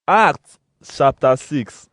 Acts chapter 6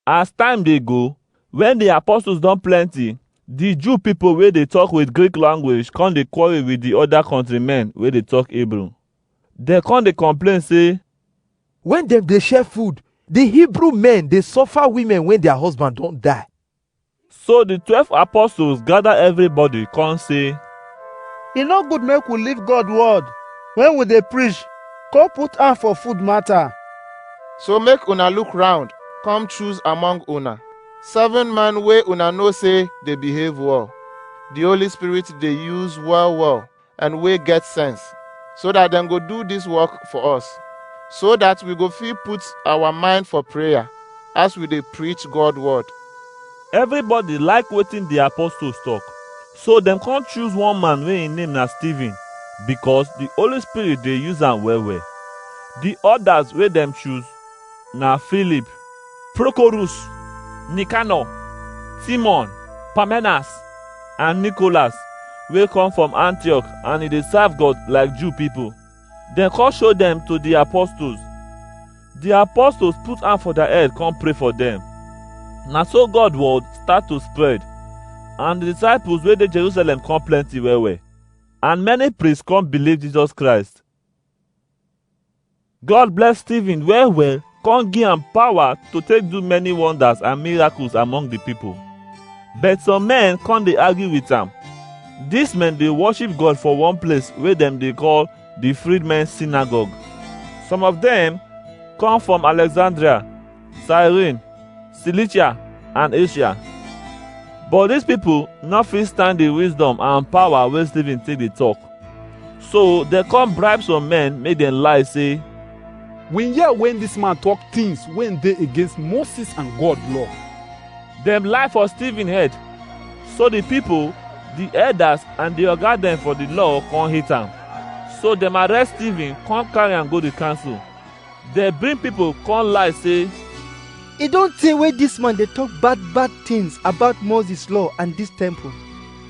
As time dey go, when the apostles don plenty, the Jew people wey dey talk with Greek language come dey quarrel with the other countrymen wey dey talk Hebrew. Dem come dey complain say, When dem dey share food, the Hebrew men dey suffer women when their husband don die. So the twelve apostles gather everybody come say, E no good make we leave God word when we dey preach, come put hand for food matter. So make una look round, come choose among una seven man wey una know say dey behave well. The Holy Spirit dey use well well and wey get sense so that dem go do this work for us so that we go fit put our mind for prayer as we dey preach god word Everybody like wetin the apostles talk. So dem come choose one man wey im name na Stephen because the Holy Spirit dey use am well well. The others wey dem choose na Filip, Prokorus, Nikanọ, Timon, Parmenas, and Nicholas wey come from Antioch and e dey serve God like Jew people. Dem come show dem to the apostles. The apostles put hand for their head come pray for them. Na so God word start to spread and the disciples wey dey Jerusalem come plenty well well. And many priests come believe Jesus Christ. God bless Stephen well well, come give am power to take do many wonders and miracles among the people. But some men come dey argue with am. These men dey worship God for one place wey dem dey call the Freedmen's Synagogue. Some of them come from Alexandria Cyrene, Cilicia, and Asia. But these people no fit stand the wisdom and power wey Stephen take dey talk. So dem come bribe some men make dem lie say, We hear when this man talk things when they against Moses and God law. dem lie for Stephen head. So the people, the elders and the oga dem for the law come hate am. So dem arrest Stephen come carry am go the council. Dem bring pipo come lie say, E don tey wey dis man dey talk bad bad things about Moses law and dis temple.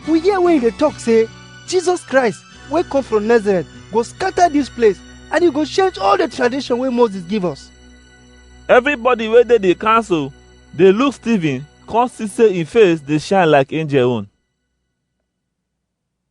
We hear wey he dey talk say Jesus Christ wey come from Nazareth go scatter dis place and he go change all the tradition wey Moses give us. Everybody wey dey the council dey look Stephen come see say him face dey shine like angel own.